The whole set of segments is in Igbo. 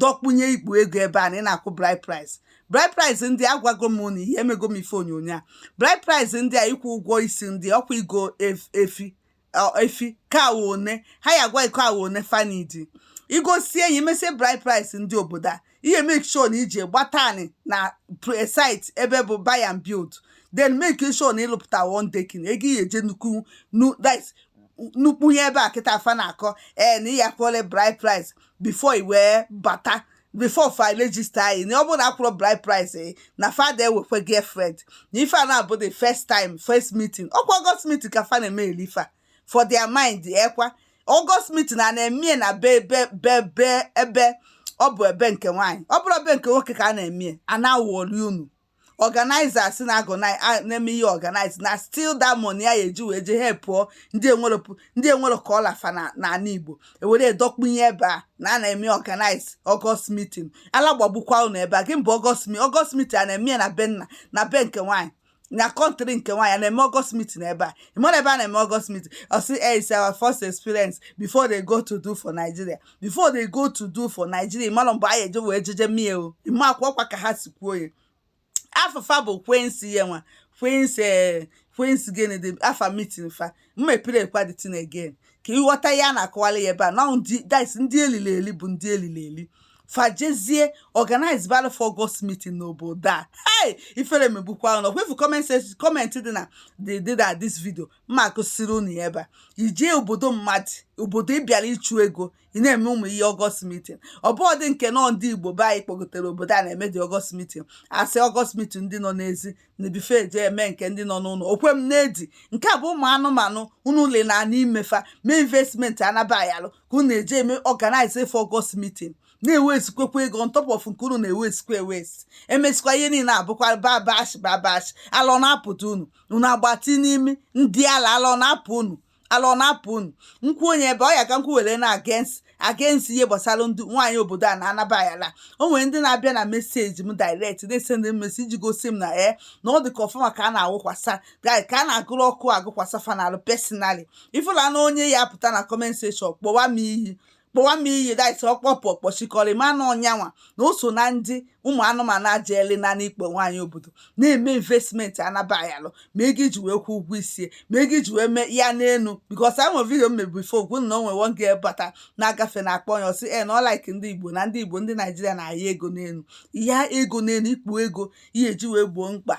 dọkpụnye ikpo ego ebe a na ị na-akwụ bride price bride price ndị a gwago m na ihe emego m ife onyonyo a bride price ndị a ịkwụ ụgwọ isi ndị ọkwa igo efi efi ka awa one ha ya gwa iko awa one fanidi igosi enyi mesie bride price ndị obodo a ihe make sure na ijee gbata ani na site ebe bụ buy and build then make sure na ịlụpụta one decking ego ihe eje nnukwu nnukwu ihe ebe a kịta afa na-akọ ee eh, na ihe akwụọla bride price before i wee bata before fa register gị na ọ bụrụ na akwụrọ bride price eh, na fa ada ewekwe girlfriend na ife a na-abụ the first time first meeting ọkwa August meeting ka fa na-eme elifa for their mind ekwa eh, August meeting a na-emie na be ebe be be ebe ọ bụ ebe nke nwaanyị ọ bụrọ be nke nwoke ka a na-emie a na-awọli unu organizers na organize a- na-eme ihe organize na still that money ya eji wee jee helpụọ ndị enwerọ pụ- ndị enwerọ ka ọ la fa na n'ala igbo ewere edọkpunye ebe a na a na-eme organize August meeting ala gbagbukwa unu ebe a gịnị bụ August mi August meeting a na-eme ya na be nna na be nke nwaanyị na country nke nwaanyị a na-eme August meeting ebe a ịmara ebe a na-eme August meeting ọ sị eh, it's our first experience before they go to do for nigeria before they go to do for Nigeria ịmara mgbe anyị eje wee jeje mie o ime akwa ọkwa ka ha si kwuo ya afa fa bụ Queens ya nwa Queens eh, Queens gịnị dị afa meeting fa mmepere ekwa the thing again ka ịghọta ya na-akọwara ya ebe a na this ndị elili eli bụ ndị elili eli fajezie organize battle for August meeting n'obodo a hey ifere megbukwa unu kwefu comment dị na dị na this video mma akụsiri unu ya ebe a ijee obodo mmadụ obodo ị bịara ịchụ ego ị na-eme ụmụ ihe August meeting ọ bụ ọdị nke nọ ndị igbo be anyị kpọgotere obodo a na-eme the August meeting a sị August meeting ndị nọ n'ezi na ebe ife eje eme nke ndị nọ n'ụlọ o kwe m na-edi nke a bụ ụmụ anụmanụ unu ụlọ na anụ imefa mee investment anaba ayalụ ka unu eje eme organize for August meeting na-ewezikwekwa ego on top of nke unu na-ewezikwa ewezi emezikwa ihe niile abụkwa babash babash ala ọ na-apụdị unu unu agbati n'ime ndị ala ala ọ na-apụ unu ala ọ na-apụ unu m kwuo onye ebe ọ ya ka m kwuwere na against against ihe gbasara ndị nwaanyị obodo a na anaba ayalụ o nwere ndị na-abịa na message m direct na-esend m message gosi m na e na ọ dịka fa mma ka a na-agụkwasa ka a na-agụrụ ọkụ agụkwasa fa n'alụ personally ifụla na onye ya pụta na comment section kpọwa m iyi kpọwa m iyi idiot ọkpọpụ ọkpọchikọrọ ma na onye anwa na o so na ndị ụmụ anụmanụ ajeeli na n'ikpu nwaanyị obodo na-eme investment anaba ayalụ ma ego iji wee kwụ ụgwọ isie ma ego iji wee mee ya n'elu because e nwere video m mee before gwa unu na o nwere one girl bata na-agafe na akpọ ya ọ sị na ọ like ndị igbo na ndị igbo ndị naijiria na-aya ego n'elu ya ego n'elu ikpo ego ihe eji wee gboo mkpa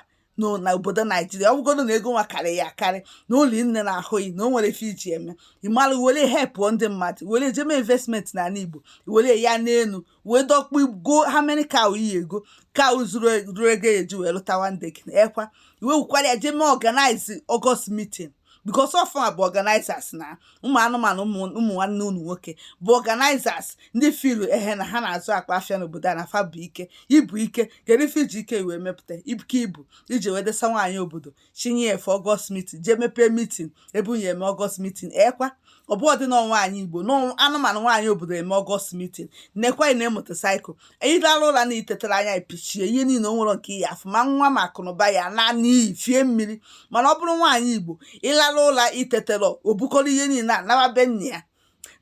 na obodo naijiria ọ bụgodu na ego nwa karị ya akarị na ụlọ nne na ahụghị na o nwere ife iji eme ịmara were hepụọ ndị mmadụ were jeme investment na ala igbo were ya n'elu wee dọkpụ go how many car iyi ego ka zuru e, ego eji wee lụta one day ekwa i wekwara ya jeme organize August meeting because ọ fa bụ organizers na ụmụ anụmanụ ụmụ nwanne unu nwoke bụ organizers ndị filu ehe na ha na-azụ akpa afịa n'obodo a na fa bụ ike ibu ike kedu ife iji ike wee mepụta ike ibu iji wee desa nwaanyị obodo chinye ya for August meeting jee mepee meeting ebe unu ya-eme August meeting ekwa ọ bụ ọdị na nwaanyị igbo na anụmanụ nwaanyị obodo eme August meeting nekwa na motorcycle ịlara ụra na itetara anya epichie ihe niile o nwere nke ya afụ ma nwa ma akụnụba ya na n'iyi fie mmiri mana ọ bụrụ nwaanyị igbo ịlara ụra itetara o bukọrọ ihe niile a nawa be nna ya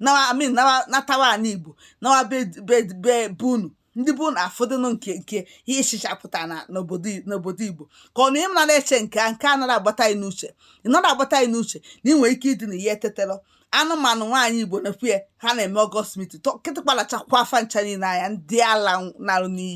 nawa I mean nawa natawa ana igbo nawa be be be be unu ndị bụ na afọdụnụ nke nke ihe ịchịchapụta na n'obodo n'obodo igbo ka ọ na ị nara eche nke a nke a nara agbata anyị n'uche ị nara agbata anyị n'uche na ị nwere ike ịdị na ihe etetela anụmanụ nwaanyị igbo na-ekwu ya ha na-eme August meeting ka ị tịkpalachakwa fa ncha niile anya ndị ala narụ n'iyi